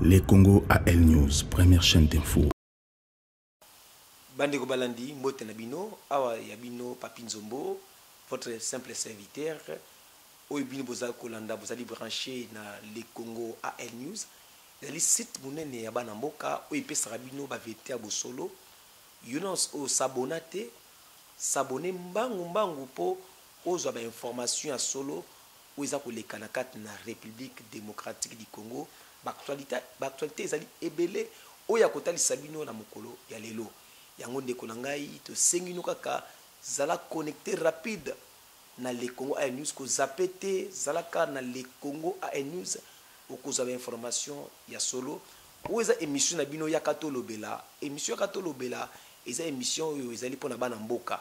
Le Congo AL News, première chaîne d'info. Bandeko balandi mbote na bino awa ya bino Papi Nzombo votre simple serviteur oyo bino bozali kolanda bozali branche na le congo al news ezali site monene ya bana mboka oyo epesaka bino baverite ya bosolo yo nyonso oyo sabona te sabone mbangu mbangu mpo ozwa bainformation ya solo Oyo eza koleka na kati na Republique democratique du Congo, ba actualites ezali ebele oyo ya kotalisa bino na mokolo ya lelo. Yango ndeko na ngai, tosengi bino kaka zala connecter rapide na LeCongoAirnews, ko zapper te, zala kaka na LeCongoAirnews, okozwa ba informations ya solo. Oyo eza emission na bino Yaka tolobela. Emission Yaka tolobela eza emission oyo ezali pona bana mboka.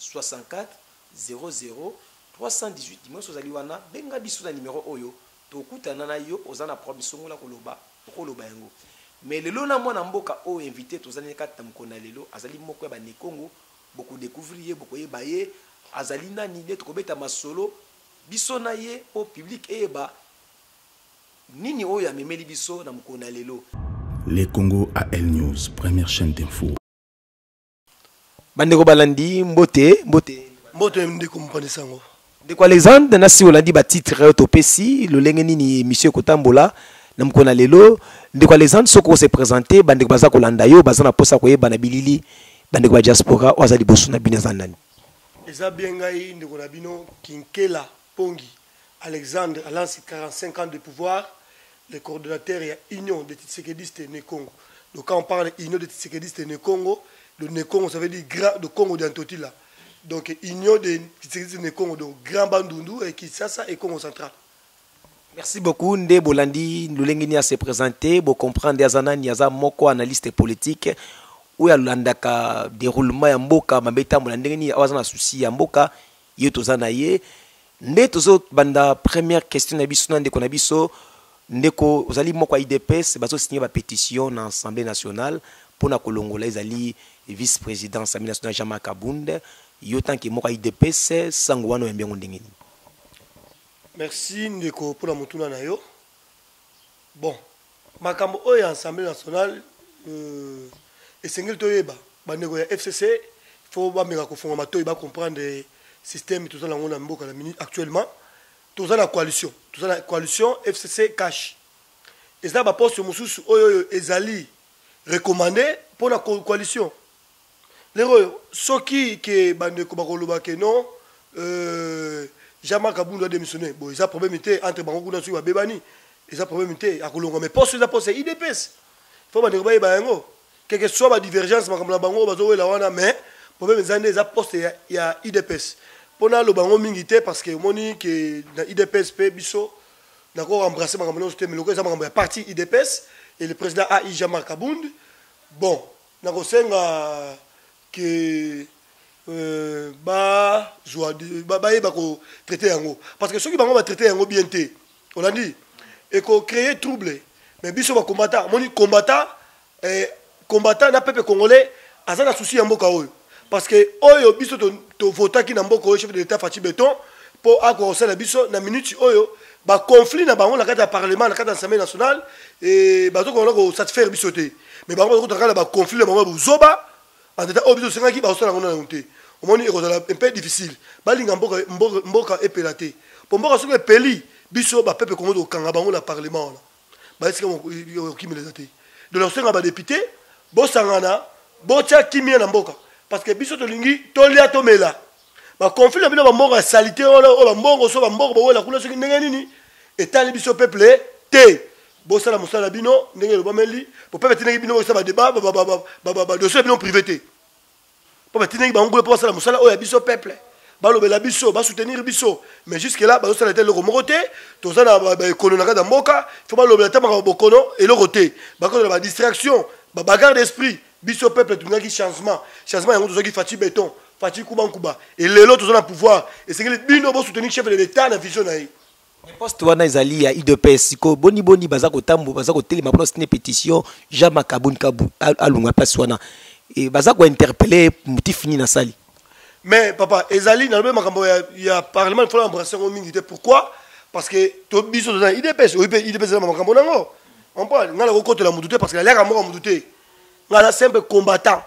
64000318 dimosi ozali wana benga biso na numero oyo tokutana na yo oza na problème songola koloba okoloba yango mais lelo na mwana mboka oyo invite tozali na kati na mokolo na lelo azali moko ya bane kongo boko decouvrir ye bokoyeba ye azali nani nde tokobeta masolo biso na ye po publique eyeba nini oyo amemeli biso na mokolo na lelo. Le Congo AL News, première chaine d'info. bandeko balandi mbote mbote mbote ndeko mopanzi sango ndeko alexandre nasi olandi batitre oyo topesi lolenge nini emission ekotambola na mokolo na lelo ndeko alexandre soki ose présente bandeko baza kolanda yo baza na mposa koyeba na bilili bandeko ba diaspora oyo aza liboso na bino eza nani eza bien ngai ndeko na bino kinkela Pongi Alexandre alansi 45 ans de pouvoir le coordonnateur ya union de Tshisekediste ne Congo donc quand on parle union de Tshisekediste ne Congo de ne Congo ça veut dire grand de Congo de Antotila donc union de Tshisekediste ne Congo donc grand Bandundu et Kinshasa et Congo central Merci beaucoup nde bolandi lolenge ni se présenter bo comprendre aza nani aza moko analyste politique oyo alandaka déroulement ya mboka mabe etambola ndenge nini awa aza na souci ya mboka Yo toza na ye nde tozo banda première question na biso na ndeko na biso ndeko ozali moko ya idps bazo signe ba petition na assemblée nationale pona kolongola ezali vice président assemblée nationale jean marc abund yo tanke moko ya idps sango wana oyambi yango ndenge nini Merci ndeko pona motuna na yo bon Makambo oyo ya Assemblee nationale esengeli toyeba bandeko ya FCC faut bameka kofunga matoyi ba comprendre système toza nango na mboka na minute actuellement toza na coalition toza na coalition FCC cash eza ba poste mosusu oyo oyo ezali recommandé mpo na coalition Lelo oyo soki ke bandeko bakoloba ke non euh, Jean-Marc Abundu a démissionné bon eza problème te entre bango kuna soki babebani eza problème te akolongwa mais poste eza poste ya IDPS fo bandeko bayeba yango quelque soit ba divergence makambo na bango bazowela wana mais problème eza nde eza poste ya, ya IDPS mpo naloba yango mingi te parce que omoni ke na IDPS mpe biso nako embrasser makambo nyonso te mais lokola eza makambo ya parti IDPS et le président AI Jean-Marc Abundu bon Nakosenga que ba zua bayeba ko traiter yango parce que soki bango ba traiter yango bien te olandi eko creer trouble mais biso ba combattant moni combattant eh, combattant na peuple congolais aza na souci ya mboka oyo parce que oyo biso tovotaki na mboka oyo chef de l'état faci beton mpo akoka kosala biso na minute oyo baconflit na bango na kati ya parlement na kati ya assemblée nationale e, bazokona kosatisfaire biso te mais bango bazokota kaka na baconflit na bango ya bozoba antata oyo biso tosengaki bakosala yango nanu te omoni ekozala mpe difficile balinga mboka, mboka, mboka epela te mpo mboka soki epeli biso bapepe kongo tokokanga bango na parlement wana bayesika okimela eza te donc nakosenga badepute bosangana botya kimia na mboka parce que biso tolingi tolia tomela baconflit na bino bambongo ya salite wana oyo bambongo so bambongo bowela kuna soki ndenge nini etali biso peuple te bosala mosala bino ndenge elobameli po peuple atindaki bino bosala badeba badosie na bino privé te mpo batindaki bango kuna mpo basala mosala oyo ya biso peuple balobela biso basoutenir biso mais jusque là bazosala ete eloko moko te toza na baekono na kati ya mboka fo balobela ta makambo bokono eloko te bakozala badistraction babagarre d'esprit biso peuple tolingaki changement changement yango tozwaki faci béton faci kubankuba elelo toza na pouvoir esengeli bino bosoutenir chef de l'état na vision na ye Mais poste wana ezali ya udps sikoyo boni boni baza kotambo baza kotelema mpona sine pétition jean makabun kabu alunga place wana e, baza kointerpele motif nini asali mais papa ezali nalobi makambo ya, ya parlement ifona embrase yango mingi te pourquoi parce que to biso toza na udps oyi mpe udps eza na makambo na yango ompone ngai nakokotela motu te parce que naliaka mboka motu te ngai aza simple combattant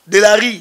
de la rue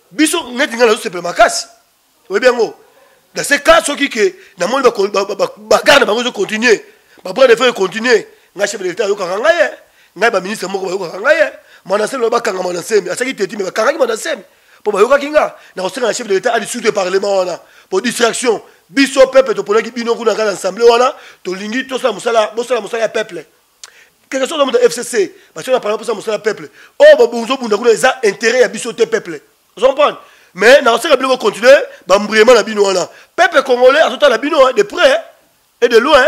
biso neti ngai nazosepela makasi oyebi yango dans ce cas soki ke namoni bagarde na bango ezocontinue babras de fer econtinue ngai chef de l'état ayokaka ngai ye ngai baministre moko bayokaka ngai ye manasemi bakanga manasemi asaki teti me bakangaki manasemi mpo bayokaki nga nakosenga na chef de l'état adisute ya parlement wana mpo distraction biso peuple toponaki bino kuna ngai na ensemble wana tolingi tosala mosala bosala mosala ya peuple quelque soit ozomuta fcc basi na parle mposa mosala peuple oyo oh, bozobunda kuna eza intérêt ya biso te peuple ozo comprendre mais nakoseka bino bocontinue bambriema na bino wana peuple congolais azotala bino hein, de près et de loin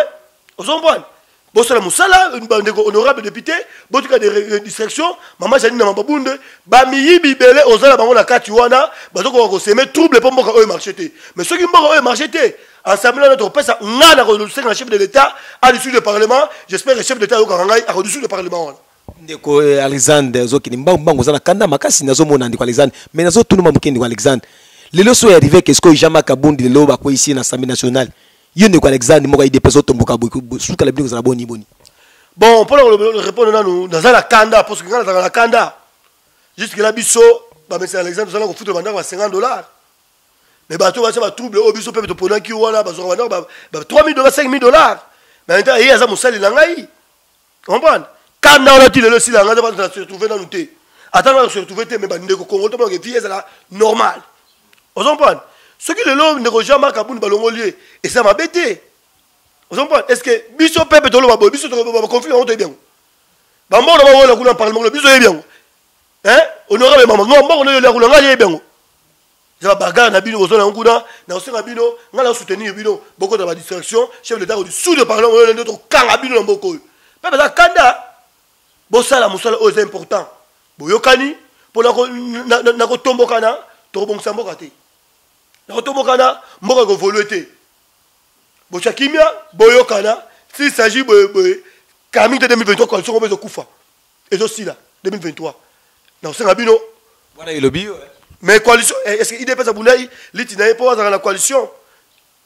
ozo comprendre bosala mosala bandeko honorable député botika de euh, distraction mama janine na mababunde bamiyibi ebele oza na bango na kati wana bazokoka koseme trouble mpo mboka oyo marché te mais soki mboka oyo marché te ensemble wana tokopesa ngai nakosenga na chef de l'état a dissoudre le parlement j'espère que chef de l'état ayokaka ngai akodissoudre le parlement wana ndeko eh, alexandre ozokende mbangu mbangu oza na kanda makasi nazomona ndeko alexandre mais nazotunuma moke ndeko alexandre lelo so ya rive kesko ijama kabundi lelo bakweyisi na assemblée nationale yo ndeko alexandre moko idps otomboka suka la bino kozala boni boni bon mpo na korepondre nanu naza na kanda parce que ngai nazalaka na kanda jusque la biso bamesana alexandre tozala kofuta bandako ya 50 dollars mais bato oyo batya batrouble oyo biso mpe toponaki wana bazwaka banoko ba, ba 3000 dollars 5000 dollars mais maintenant ye aza mosali na ngai comprendre kanda wana ti lelo esila ngai nzapa na se retrouve nanu te ata ngai se retrouve te mais bandeko kongo to banake vie ezala normal ozo comprendre soki lelo ndeko jean marc abuni balongoli ye eza mabe te ozo comprendre est ce que biso pepe toloba boye biso baconflit yango toyebi yango bambongo na bawola kuna parlement biso yebi yango eh honorable mama no mbongo noyo liakula ngai yebi yango eza babagare na bino kozwa nango kuna na kosenga bino ngai na soutenir bino bokota badistraction chef de kodi sous le parlement oyo nde tokanga bino na mboka oyo mpe baza kanda bosala mosala oyo eza important boyokani mpo na kotombokana tokobongisa mboka te na kotombokana mboka ekovolue te botya kimia boyokana s'il s'agit boye boye kamite 2023 coalition ngo mpe ezokufa ezo sila 2023 na kosenga bino wana elobi yo eh. mais coalition eh, est-ce que idps abundai liti na ye mpo azalaka na coalition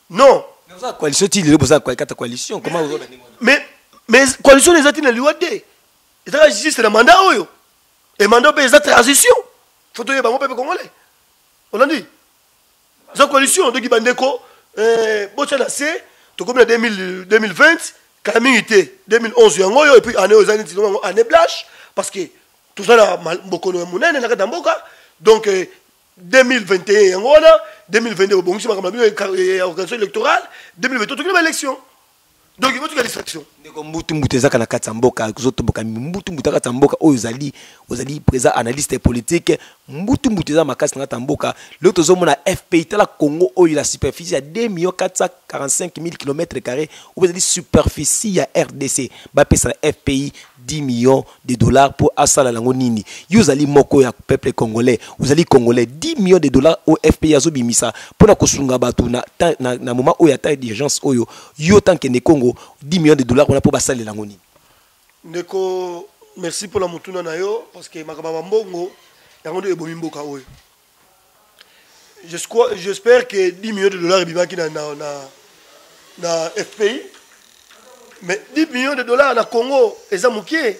non oza coalition ti lelo boza kata coalition comment ozo mais mais coalition eza ti na liwa te ezaka juste na mandat oyo et mandat mpe eza transition faut toyeba yango mpe mpe congolais olandi za coalition doki bandeko eh, botya na se tokomi na 2020 kala mingi te 2011 yango oyo epuis année oyo eza neti yango année blache parce que toza na bokono ya monene na kati ya mboka donc 2021 eh, yango wana 2022 bobongisi makambo na bino ya organisation électorale 2022 tokoki na baélection donc botika distraction ndeko mbutu mbutu ezaka na kati ya mboka ozotomboka mbutu mbutu akati ya mboka oyo ozali ozali présent analyste politique mbutu mbutu eza makasi na kati ya mboka lelo tozomona fpi tala congo oyo la superficie ya 2 million 445 000 km carré oyo ezali superficie ya rdc bapesa na fpi 10 millions de dollars pour asala nango nini yo ozali moko ya peuple congolais ozali congolais 10 millions de dollars au FPI azobimisa mpo na kosunga bato na, na, na moment oyo ata d'urgence oyo yo tanke ne Congo 10 millions de dollars wana mpo basalela yango nini ndeko merci mpo na motuna na yo parce que makambo ya mbongo yango nde ebomi mboka oyo J'espère que 10 millions de dollars ebimaki na, na, na, na FPI. Mais 10 millions de dollars na Congo, eza mukie.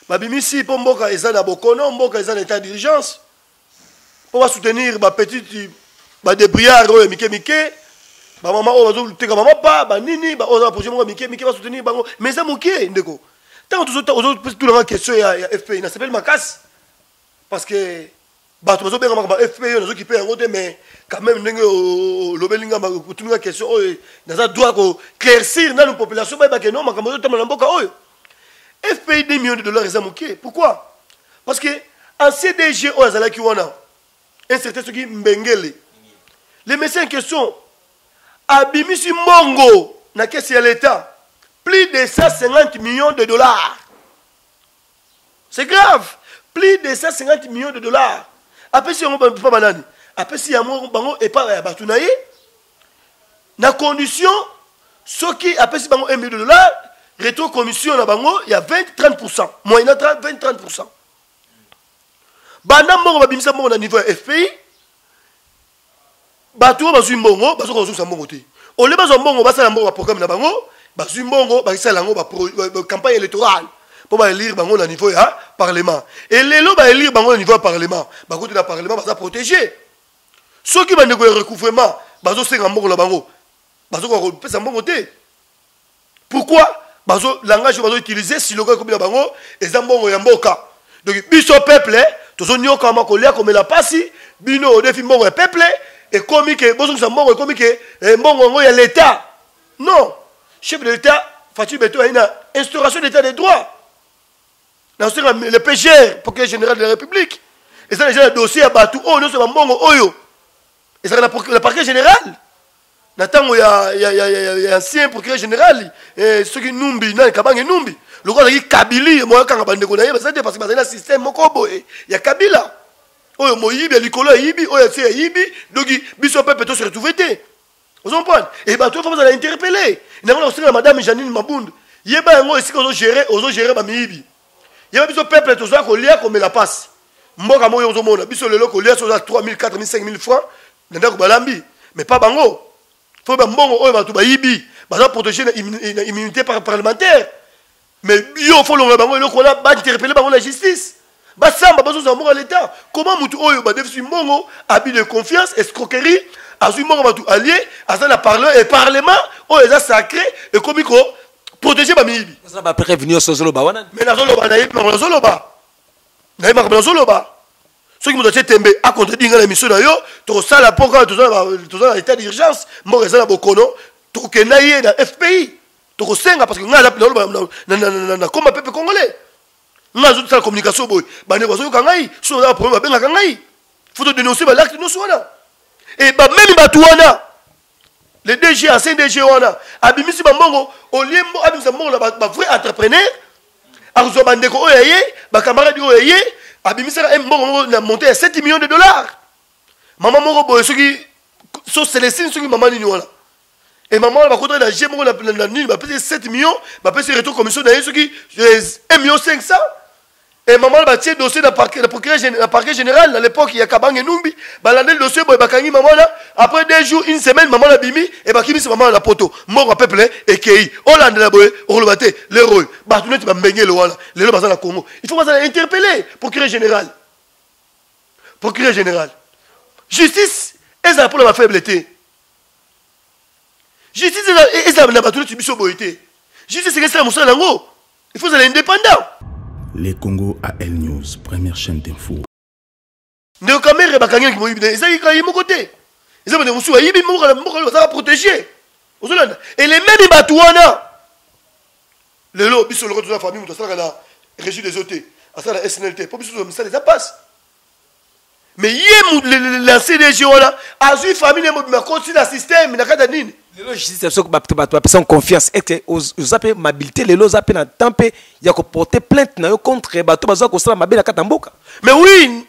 Babimisi mpo mboka eza na bokono, mboka eza na état d'urgence. Mpo ba soutenir ba petite ba débrouillard oyo mike mike. Ba mama oyo bazoteka mama pa, ba nini, ba oza projet moko mike mike ba soutenir bango. Mais eza mukie ndeko. Tant que tu as une question ya, ya FPI, na sepeli makasi. parce que bato bazobengamaka ba fp yo nazokipe yango te mais quand même ndenge olobeli nga otuni nga question oyo naza droit koclaircir nanu population bayeba ke no makambo ezotambola na mboka oyo fpi 2 millions de dollars eza moke pourquoi parce que en cdg oyo azalaki wana un certain soki mbengele le monsieur en question abimisi mbongo na kesi ya l'état plus de 150 millions de dollars c'est grave plus de 150 millions de dollars apesi yango epa banani apesi yango bango epa ya bato na ye na condition soki apesi bango 1 million de dollars retro commission na bango ya 20 30 pourcent moyena 20 30 pourcent banda mbongo babimisa mbongo na niveau ya fpi bato oyo bazwi mbongo bazoka kozongisa mbongo te ole bazwa mbongo basala mbongo baprogramme na bango bazwi mbongo bakisala yango bacampagne électorale mpo baelire bango na niveau ya parlement e lelo baelire bango na niveau ya parlement bakuti na parlement baza protégé soki bandeko ya recouvrement bazosenga mbongo na bango bazokoka kopesa mbongo te pourquoi bazo langage bazo utiliser siloka ekomi na bango eza mbongo ya mboka donc biso peuple tozonyokama kolia komela pasi bino odefi mbongo ya peuple ekomi ke bozongisa mbongo ekomi ke eh, mbongo yango ya leta non chef de leta fatui beto ayi na instauration d'état de droit nasenga le pgr procureur général de la république eza deja na dossier ya bato oyo nyonso bambongo oyo ezalaka na parquet général na ntango ya, ya, ya, ya, ya, ya ancien procureur général eh, soki numbi nani kabange numbi lokola azalaki kabili moyo akanga bandeko na ye bazali te parce que bazali na système moko boye ya kabila oyo moyibi ya likolo ayibi oyo atie ayibi doki biso pepe to se retrouve te ozo comprendre e bato oyo bazala interpele nango na kosenga madame janine mabundu yeba yango esika ozo gere ozo gere bamiyibi yeba biso peuple tozoya kolia komela pasi mboka moko yo ozomona biso lelo kolia soza 3000 4000 5000 francs na ndako balambi mais pas bango fo bambongo oyo bato bayibi baza protégé na immunité parlementaire mais yo fo longola bango eloko wana bainterpele bango na justice basamba bazozala moko ya leta koma motu oyo badefisi mbongo abi de confiance escroquerie azwi mbongo bato alie aza na parle e parlement oyo eza sacré ekomi ko protéger ba miyibi oza ba preuve nioso zoloba wana mais na zoloba na yebi makambo na zoloba na yebi makambo na zoloba soki moto atie tembe acontredire ngai na émission na yo tokosala mpo kaka toza na état d'urgence mboka eza na bokono tokokenda ye na fpi tokosenga parce que ngai naloba nakoma pepe congolais ngai azosala communication boye bandeko bazoyoka ngai soki oza na problème babengaka ngai fo todénonce balacte nyonso wana e bamemi bato wana le dg ancien dg wana abimisi bambongo olie abimisa mbongo na bavrai entrepreneur akozwa bandeko oyo ya ye bakamaradi oyo ya ye abimisaka mbongo moko na monte ya 7 million de dollars mama moko boye soki so celestine soki mama nini wana e mama wana bakotaki na je moko na nini bapesi 7 million bapesi retour commission na ye soki 1 eh, million 500 Et maman elle batie dossier na parquet na procureur na parquet général à l'époque ya Kabange Numbi balandeli dossier boye bakangi maman là après deux jours une semaine maman la bimi et bakimisi maman la poto mbongo peuple ekei olandela boye okoloba te lero oyo bato neti bambengelo wana lelo baza na Congo il faut baza na interpellé procureur général procureur général justice ezala mpo na bafaible te justice ezala na bato neti biso boye te justice ekesala mosala yango il faut ozala indépendant le congo a l news première chaîne d'info ndeko kamere bakangi na kimoyibi na ezalaki kaka ye moko te eza bandeko mosusu bayibi mboka na mboka bazalaka protégé ozolanda e le meme bato wana lelo biso loko toza famille moto asalaka na régie des eaux te asala na snl te mpo biso toza misala eza mpasi mais ye l'ancien dg wana azwi famille mobima akoti na système na kati ya nini lelo justice soki bato bapesaki confiance ete oza mpe mabilité lelo oza mpe na temps mpe ya koporte plainte na yo contre bato baza kosala mabe na kati ya mboka mais oui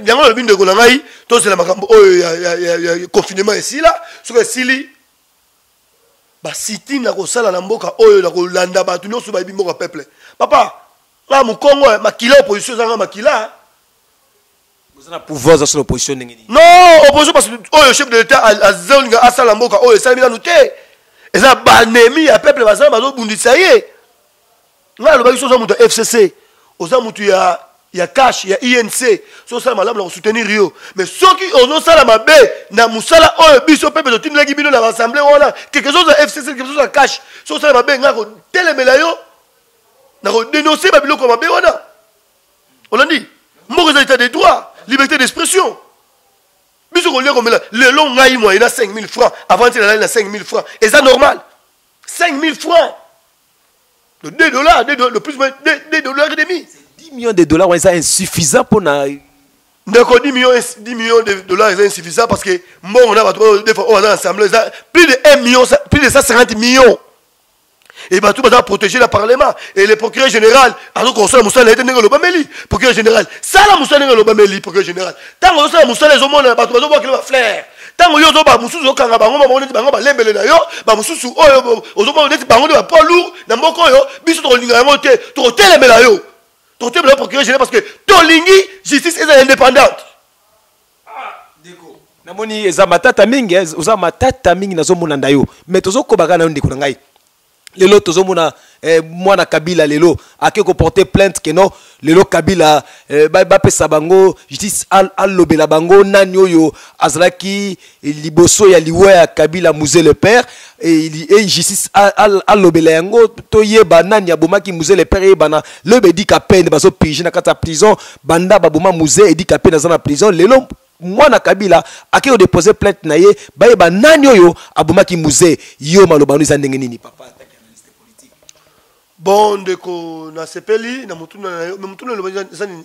yango alobi ndeko na ngai tozela makambo oyo ya confinement esila soki esili basiti na kosala na mboka oyo na kolanda bato nyonso bayebi mboka peuple papa nga mukongo eh, makila opposition ezanga makila eh. oza na pouvoir oza solo opposition ndenge nini non opposition parce que oyo chef de l'état azolinga asala mboka oyo esalemi nanu te eza banemi ya peuple bazala bazobundisa ye ngai alobaki so oza moto ya fcc oza moto ya ya cash ya inc so osala malamu na kosoutenir yo mais soki ozosala mabe na mosala oyo biso mpe mpe totindelaki bino na baassemble wana quelque chose ya fcc quelque chose ya cash so osala mabe ngai kotelemela yo na kodenonse babiloko mabe wana olandi mboka eza etat de droit liberté d'expression biso kolia komela lelo ngai moye na 5000 francs avant ti nalali na 5000 francs eza normal 5000 francs de 2 dollars de, de, de plus moins 2, 2 dollars et demi 10 millions de dollars wana eza insuffisant mpo na ndeko 10 millions, 10 millions de dollars eza insuffisant parce que mbongo na bato oyo defa oyo aza na assemblée eza plus de 1 million plus de 150 millions et bato baza protégé na parlement et le procureur général azoki kosala mosala na ye te ndenge olobameli procureur général sala mosala ndenge olobameli procureur général ntango ozosala mosala ezomonana bato bazobwakela baflere ntango yo ozoba mosusu okanga bango bango neti bango balembele na yo bamosusu oyo ozomona neti bango nde bapoids lourd na mboka oyo biso tokolinga yango te tokotelemela yo tokotelemela yo procureur général parce que tolingi justice ezala indépendante namoni eza matata mingi eh, oza matata mingi nazomona nda yo mais tozokobaka na yo ndeko na ngai lelo tozomona eh, mwana kabila lelo ake koporte plainte ke non lelo kabila eh, bapesa ba bango justice alobela bango nani oyo azalaki liboso ya liwa ya kabila muse le père et justice alobela yango toyeba nani abomaki muze le père eyebana loyeba edika pene bazopirige na kati ya prison banda baboma muze edika pene aza na prison lelo mwana kabila ake kodepose plainte na ye bayeba nani oyo abomaki muze yo maloba no eza ndenge nini papa bon ndeko nasepeli na motuna na yo me motuna elobaki eza nini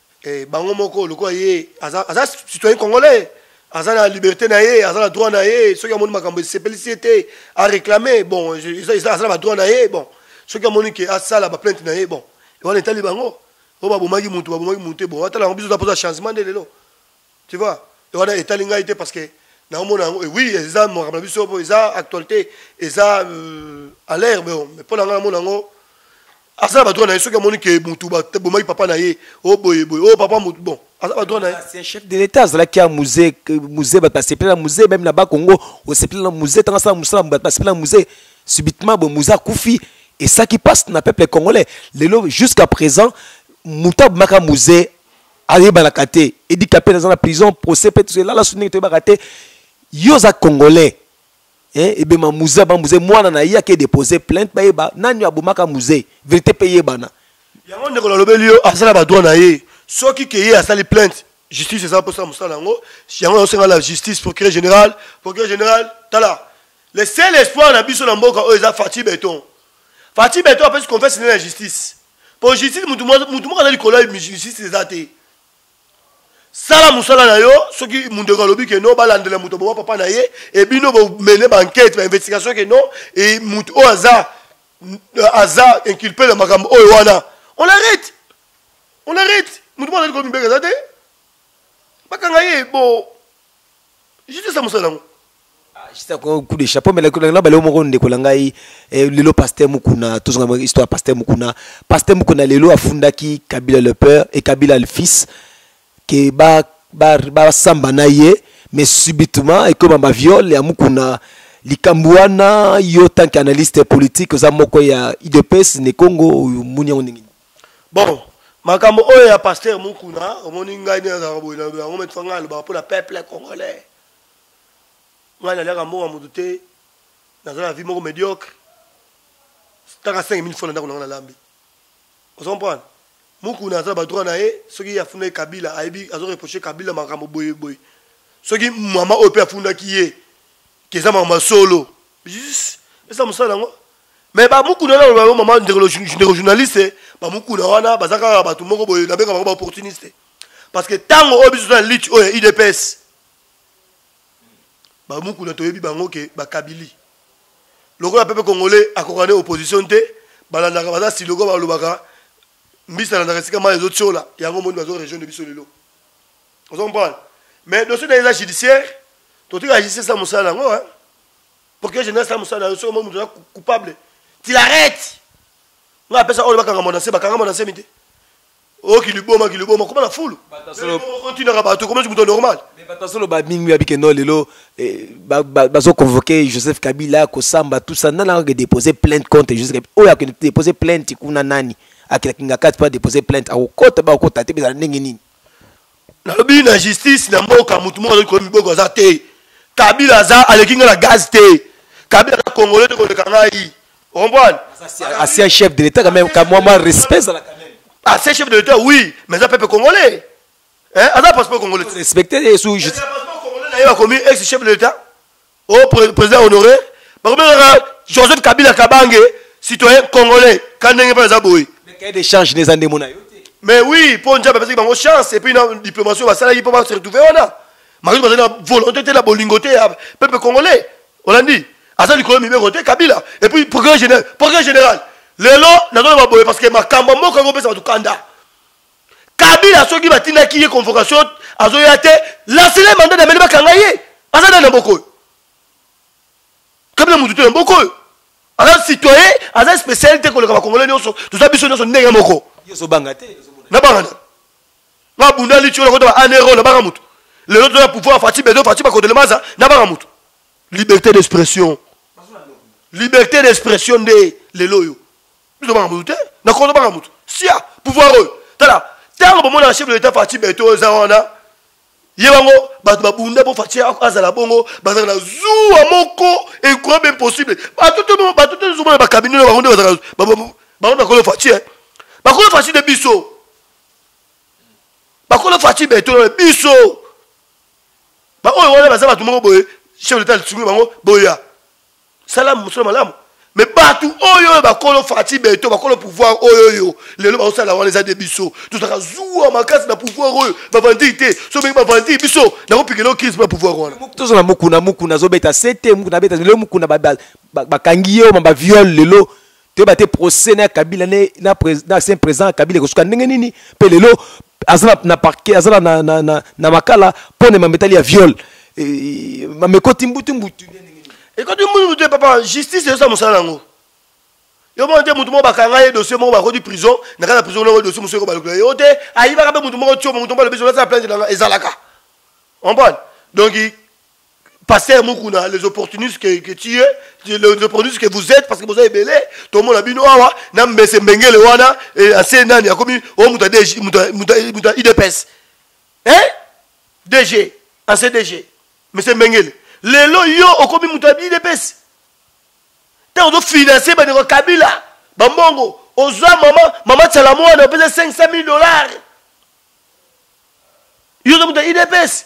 eh, bango moko lokola ye aza, aza citoyen congolais aza na liberté na ye aza na droit na ye soki amoni makambo esepelisi ye te aréclame bon aza na badroit na ye bon soki amoni ke asala baplainte na ye bon wana etali bango oyo babomaki motu babomaki motu te bon atala yango biso toza mpoza changement nde lelo Tu vois? Donc wana etali ngai te parce que naomona yango eh oui eza makambo na biso mpo eza actualité eza euh, à l'air mais oh, mpo na ngai namona yango aza na badroit na ye soki amoni ke motu bomaki papa na ye o oh, boye boye o oh, papa motu bon aza badroit na ye c'est un chef de l'état azalaki ya musée musée bato basepela na musée meme na bakongo osepela na musée ntango asala mosala bato basepela na musée subitement boye musée akufi esaki mpasi na peuple congolais lelo jusqu'à présent moto abomaka musée ayebanaka te edi kapele aza na prison procès mpe tozo elala su ndenge toyebaka te yo oza congolais eh, ebema muze aba muze mwana na ye ake depose plainte bayeba nani abomaka muze verité mpe eyebana yango ndeko nalobeli yo aza na badroit na ye soki ke ye asali plainte justice eza mposa mosala yango yango naosenga la justice procureur général procureur général tala le seul espoir na biso na mboka oyo eza fatshi beton fatshi beton apesi confesse nde na justice mpo justice motu moko aza likolo ya justice eza te sala mosala na yo soki mondeko alobi ke no balandela moto boma papa na ye ebino bomene bankete bainvestigation ke no e motu oyo aza aza inculpe na makambo oyo wana on arrête on arrête motu moko azali komibeka eza te bakanga ye bo justice ya mosala yango sisa ko coup de chapeau mais la na bale moko ndeko na ngai eh, lelo pasteur mukuna tozonga mwa histoire pasteur mukuna pasteur mukuna lelo afundaki kabila le père et kabila le fils ke ba ba ba samba na ye mais subitement ekoma ba viol ya mukuna likambo wana yo tant qu'analyste politique oza moko ya idps ne congo oyo muni yango ndenge bon makambo oyo ya pasteur mukuna omoni ngai nde nazalaka boye naloba yango metua ngai alobaka mpo na peuple congolais ngai naliaka mbongo moto te naza na vie moko médiocre taka 5000 fo na ndako na ngai nalambi ozo comprendre mukuna aza na badroit na ye soki ye afundaki kabila ayebi azo reproche kabila makambo boye boye soki mama oyo mpe afundaki ye keza makambo ya solo esa mosala yango mais bamukuna na loba yo mama ndeko journaliste bamukuna wana baza kaka bato moko boye nabenga bango baopportuniste parce que ntango oyo biso toza na lutte oyo ya udps bamukuna toyebi bango ke bakabili lokola pepe congolais akoka nde opposition te balandaka baza siloko balobaka mbisi alandaka esika mai ezotiola yango moni bazo région de biso lelo ozo comprendre mais dossier na eza judiciaire totika judiciaire sa mosala yango hein Procureur général sa musala yo somo mutu coupable. Tu l'arrêtes. Nga apesa oyo bakanga mona se bakanga mona se mite. Oh qui lui boma qui lui boma comment la foule. Batasolo continue à bateau comment tu mutu normal. Mais batasolo ba mingi abike no lelo eh, ba bazo convoquer Joseph Kabila ko samba tout ça nana que déposer plainte contre Joseph Kabila. Oyo akende déposer plainte kuna nani. Akenda kinga 4 pas déposer plainte. Akokota ba okota te bezala ndenge nini. nalobi na justice na mboka motu moko azoki koyi miboko aza te kabila aza aleki ngai na gaz te kabila aza congolais te koleka ngai okomprendre ancien chef de l'état quand même kamwa mwa respect ezala quand même ancien chef de l'état oui mais aza peuple congolais hein aza passeport congolais respecter ye sous justice passeport congolais na ye bakomi ex chef de l'état o president honore bakobengaka joseph kabila kabange citoyen congolais ka ndenge mpe eza boye cahier de change neza ndemo na yo mais oui mpo nzambe apesaki bango chance epuis na diplomation basalaki mpo base retrouve wana makambo bazali na volonté te na bolingo te ya peuple congolais olandi aza likolo mibeko te kabila epuis procureur général procureur général lelo nazoloba boye parce que makambo ya mboka yango opesa bato kanda kabila soki batindaki ye convocation azoya te lansele manda na meli bakanga ye aza nani na mboka oyo kabila motu te na mboka oyo aza citoyen aza spécial te koleka bakongole nyonso toza biso nyonso ndenge moko nabanga nde nabunda litio nakota ba anero nabanga motu lelo toza na pouvoir fati bedo fati bakotelemaza nabanga motu liberté d'expression liberté d'expression nde lelo oyo biso banga motu te na kondo banga motu sia pouvoir oyo tala ntango bomonaka chef de l'état fati beto eza wana ye bango bato babunda mpo fati azala bongo bazala na zuwa moko ekoya be impossible bato te zomona bakabine na bango nde bazala bango bakolo fati eh. bakolo fati nde biso bakolo fati beto biso baoyo wana baza bato moko boye chef de l'état lisungi bango boya sala mosala malamu me bato oyo oyo bakolo fati beto bakolo pouvoir oyo oyo lelo baosala wana eza nde biso tozalaka zuwa makasi na pouvoir oyo bavandii te so ndenge bavandii biso nakopikela crise mpo na pouvoir wana tozo na mokuna mokuna azobeta sete mokuna abeta lelo mokuna bakangi ye oma baviole lelo toyeba te procès na kabila na ancien président kabila ekosuka ndenge nini mpe lelo aza na parquet aza na, na, na, na, na makala mpo na mametali ya viol e, mamekoti mbutu mbutu ekoti mbutu mbutu papa justice ezosa mosala na yango yo moko te motu moko bakanga ye dossier moko bakoti prison na kati ya prison noko dossier mosuku ekobalukela yo te ayibaka mpe motu moko tio motu moko alobi zolasala plante nanga ezalaka comprendre donc pasteur mukuna les opportunistes que, que tu es les opportunistes que vous êtes parce que boza ebele tomona bino awa na mbese mbengele wana ase nani akomi o moto ya idps e dg ase dg mese mbengele lelo yo okomi moto ya idps ntango ozofinanse bandeko kabila bambongo ozwa mama mama tsala mwana opesa 500 000 dollars yo oza moto ya idps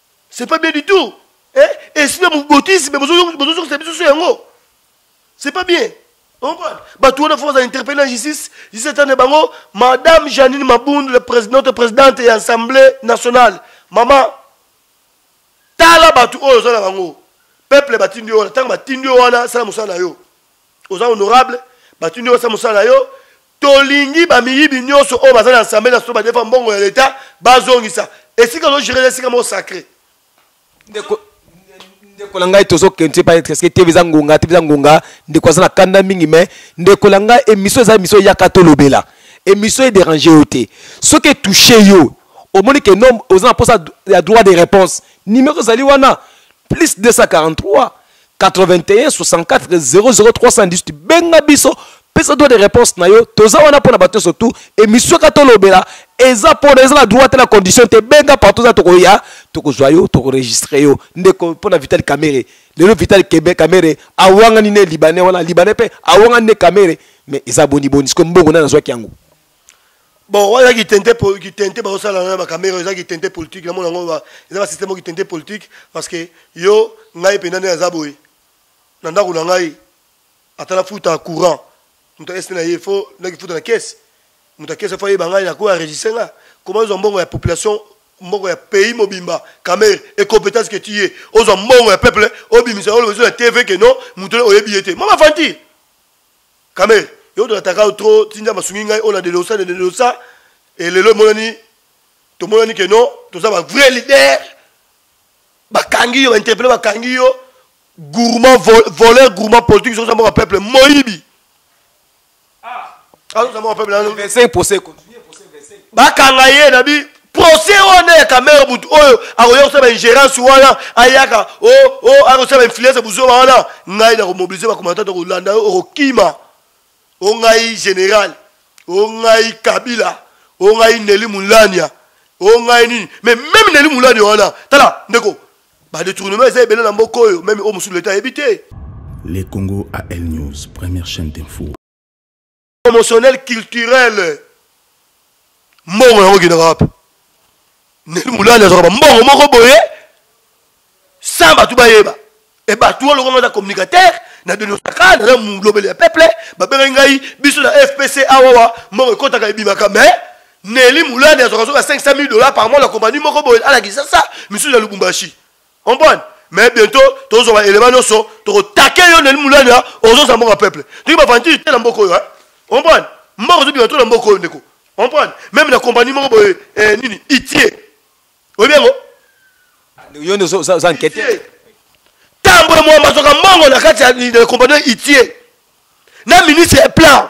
c'est pas bien du tout eh? esprit ya mobotisme bozozokisa biso so yango c'est pas bien bato wana fo bazala interpelle na justice justice etande bango madame janine mabundu notre présidente ya assemblée nationale mama tala bato oyo oza na bango peuple batindi yo wana ntango batindi yo wana sala mosala na yo oza honorable batuni yo osala mosala na yo tolingi bamiyibi nyonso oyo baza na assemble naso badefa mbongo ya leta bazongisa esika ozogere esika moko sacré ndeko ndeko na ngai tozokende te parce que tv eza ngonga tv eza ngonga ndeko aza na kanda mingi mais ndeko na ngai émission eza émission eyaka tolobela émission edérange yo te soki etouche yo omoni ke nom oza na mposa ya droit de réponse numéro ezali wana plus 243 81 64 00 318 benga biso pesa droit de réponse na yo toza wana mpo na bato nyonso tu émission ka tolobela eza mpona eza na droit te na condition te benga partout eza tokoya tokozwa yo tokoregistre yo ndeko mpo na vital kamere lelo vital kebe kamere awangani ne libanais wana libanais mpe awangani ne kamere mais eza boniboni sikoyo mbongo nani azwaki yango bon wana kitente kitente bazosala na bakamera eza kitente politique namona yango eza basystème o kitente politique parce que yo ngai mpenza nde naza boye na ndako na ngai ata nafuta courant moto ese na ye fo nakifuta na kese moto ya kese fo ayeba ngai nakoyo aregistre nga koma ozwa mbongo ya population mbongo ya pays mobimba kamere incompétence que tu ye ozwa mbongo ya peuple obimisa olobezo na tv ke non moto oyebi ye te mama fanti Kamel, yo to ataka yo trop, tinja masungi ngai ona de losa de losa et lelo monani to monani que non, to za ba vrai leader. Bakangi yo, interpeller bakangi yo. Gourmand vol, voleur gourmand politique sur mon peuple moibi. Ah, alors ça mon peuple là. 25 procès. Bakanga ye nabi procès oyo nde ya kamere motu oyo akoya kosala baingérence wana ayaka o oh, o oh, akosala bainfluence buzoba wana ngai nakomobilize bakomatata kolanda yo okokima o ngai général o ngai kabila o ngai neli mulania o ngai nini mais meme neli mulania wana tala ndeko badetournement eza ebele na mboka oyo meme oyo mosusu leta ayebi te le congo al news première chaîne d'info promotionnel culturel mbongo yango okendaka wapi neli molali azwaka bambongo moko boye sans bato bayeba e bato oyo lokola aza communicateur na denosaka naza molobeli ya peuple babengaki ngai biso na fpc awawa mbongo ekotaka ebimaka mais neli molali azwaka soka 500 000 dollars par mois na compagnie moko boye alakisa sa misusu ya lubumbashi comprendre mais bientôt tozwa ba élément nyonso tokotake yo ndeni mulanya ozosa mboka peuple toki bavantire te na mboka oyo comprendre mboka ozobima to na mboka oyo ndeko comprendre meme na compagnie moko boye eh, nini itie oyebi yango yo nde oza nkete ntango emwamba azoka mbongo na kati ya compagnie itie na ministre ya plan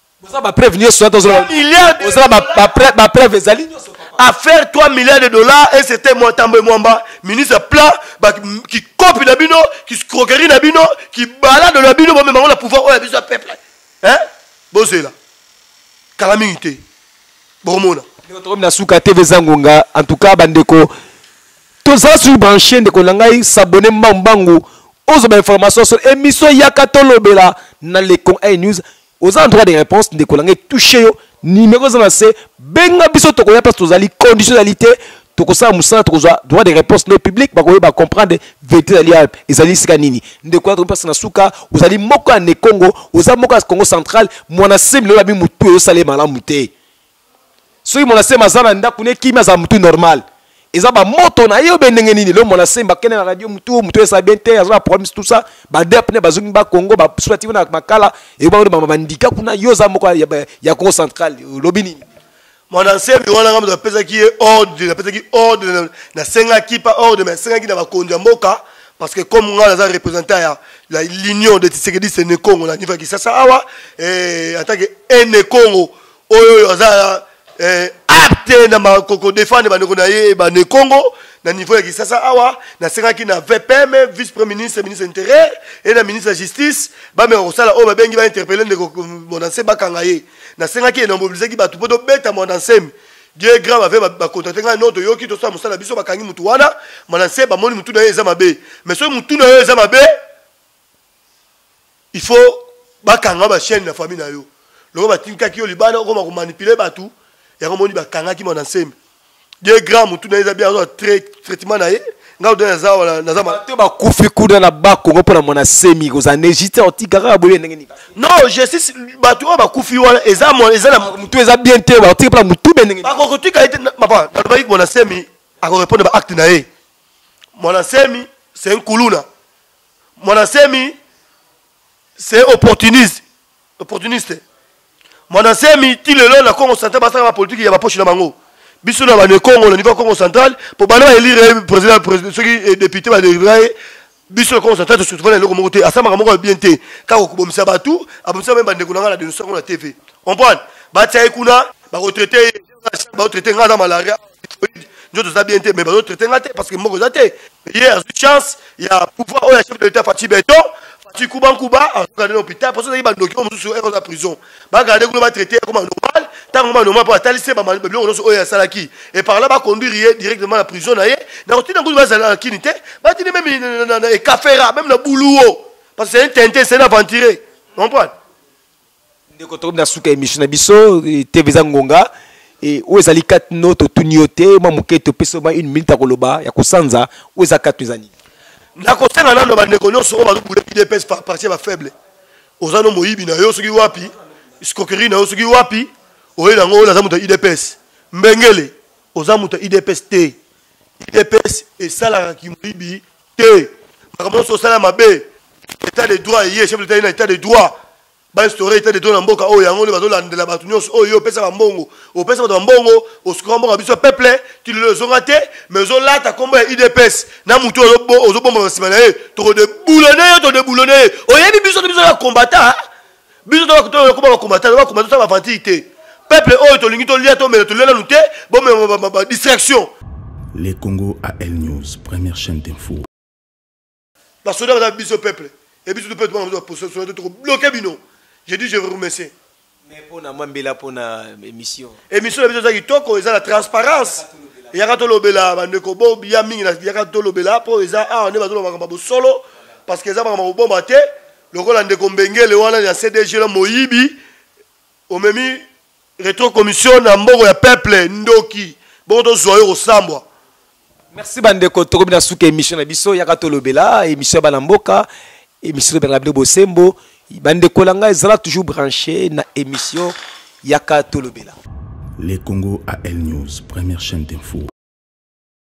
boza ba preuve nioso ata ozola milliards oza ba ba preuve ezali nioso à faire 3 milliards de dollars et c'était moi tambe mwamba ministre plat ba qui copie na bino qui scroquerie na bino qui balade na bino ba mema na pouvoir oya biso peuple hein bozela kala mingi te bomona tokomi na suka tv zangonga en tout cas bandeko tozala sur branche ndeko na ngai s'abonne mbangumbangu ozwa bainformation sur émission yaka tolobela na lecon a news oza en droit de réponse ndeko na ngai touche yo nimero eza na se benga biso tokoya place tozali condition ezali te tokosala mosala tokozwa droit de réponse nde public bakoyeba bacomprendre verité ezali awa ezali esika nini ndeko yatoko mpasi na suka ozali moko ya nekongo oza moko ya congo central mwana semile oyo abi motu ezosala ye malamu te soki mwana semba aza na ndako ne kimi azala mutu normal eza ba moto na ye obe ndenge nini lo mwana semba kende na radio mutu mutu esa bien te aza na problème tout ça ba dep ne bazongi ba Congo ba swati na makala et ba ba bandika kuna yo za moko ya, ya Congo central lobi nini mwana nsemi wana ngambo apesaki ye ordre apesaki ordre nasengaki pa ordre mais asengaki na bakonzi ya mboka parce que comme ngai naza représentant ya la l'union de tisekediste ne congo na niveau ya kisasa awa eh, en tant que ene congo oyo oyo aza eh, apte na makoko defendre bandeko na ye bane congo na niveau ya kisasa awa nasengaki na vpm vice premier ministre ministre intérieur et na ministre ya justice bameka kosala oyo babengi bainterpele ndeko mondanse bakanga ye nasengaki ye na mobilizaki bato mpo tobeta mondansemi dieu grand bave bakontakte ngai no toyoki tosala mosala biso bakangi motu wana mondanse bamoni motu na ye eza mabe mais soki motu na yo eza mabe il faut bakanga ba chaîne na famille na yo loko batindikaki yo libanda okoma komanipule bato yango omoni bakangaki mwana nsembe de grand motu na ye eza bien azwa traitement na ye ngai odo naza wana naza bato bakufi kuna na bakongo mpo na mwana semi kozala na egite otika kaka boye ndenge nini non justice bato oyo bakufi wana eza eza na motu eza bien te batika mpo na motu be ndenge bakokotika ye te papa nalobaki mwana semi akorepondre baacte na ye mwana semi c'est un kuluna mwana semi c'est opportuniste opportuniste mwana semi ti lelo na congo central basaka bapolitike ya baposhi na bango biso na bane congo na niveau ya congo central mpo bana baelire président soki eh, député badelivra ye biso na congo central tosutuvana na eloko moko te asambaka moko ya bien te kaka kobomisa bato abomisa mpe bandeko na ngai na denonsa yango na tv comprendre batia ye kuna bakotraite ye bazo traite ngai na malaria njo toza bien te mais bazo traite ngai te parce que mboko eza te ye azwi chance ya pouvoir oyo ya chef de l'état fati beton fati kuba nkuba azokande na hôpital parce ozalaki bandoki oyo mosusu oyo ekoza prison bagarde kuna batraite ekoma normal ntango ma normal mpo atalisi biloko nyonso oyo asalaki e par là baconduire ye directement na prison na ye na kotina kutu bazala na kini te batini meme na ekafera meme na buluo parce que c'est un tintin c'est un aventuré comprendre ndeko tokomi na suka ya emission na biso eh, tv eza ngonga eh, oyo ezali katino totuni yo te mwa moke topesi ma une minute ya koloba ya kosanza oyo eza katino eza nini nakosenga nano bandeko nyonso oyo bazobule udps parti ya bafaible oza no moyibi na yo soki wapi scroquerie na yo soki wapi oyebi yango oyo naza moto ya udps mbengele oza moto ya udps te udps esalaka kimoyibi te makambo nyonso osala mabe état de droit eye chef de l'etat ye na état de droit bainstaure état de droit na mboka oyo yango nde bazolandela bato nyonso oyo yo opesa bambongo opesa bato bambongo osuka mboka biso ya peuple ti lelo ezonga te mais ozolata nkombo ya udps na motu ozobomba na nsima na ye tokodeboulone yo todeboulone ye oyebi biso te biso ya kombata biso to bakuta oyo koba ba combattant ba combattant ba aventure te peuple oyo tolingi tolia tomela tolia nanu te bomema ba distraction le congo al news première chaîne d'info basoda baza biso peuple e biso mpe tobanga biso bapososoda to tokobloke bino je dis je vous remercie mais mpona mwa mbela mpona émission émission na biso eza kitoko eza na transparence yaka tolobela bandeko bo ya mingi yaka tolobela mpo eza awa nde bazolobaka babosolo parce que eza makambo kobomba te lokola ndeko mbengele wana ya cdg na moyibi omemi retro commission na mbongo ya peuple ndoki bongo tozwa yo kosambwa merci bandeko tokomi na suka émission na biso yaka tolobela émission ya bana mboka émission tobengaka bino bosembo bandeko na ngai ezala toujours branché na émission yaka tolobela le congo a l news première chaîne d'info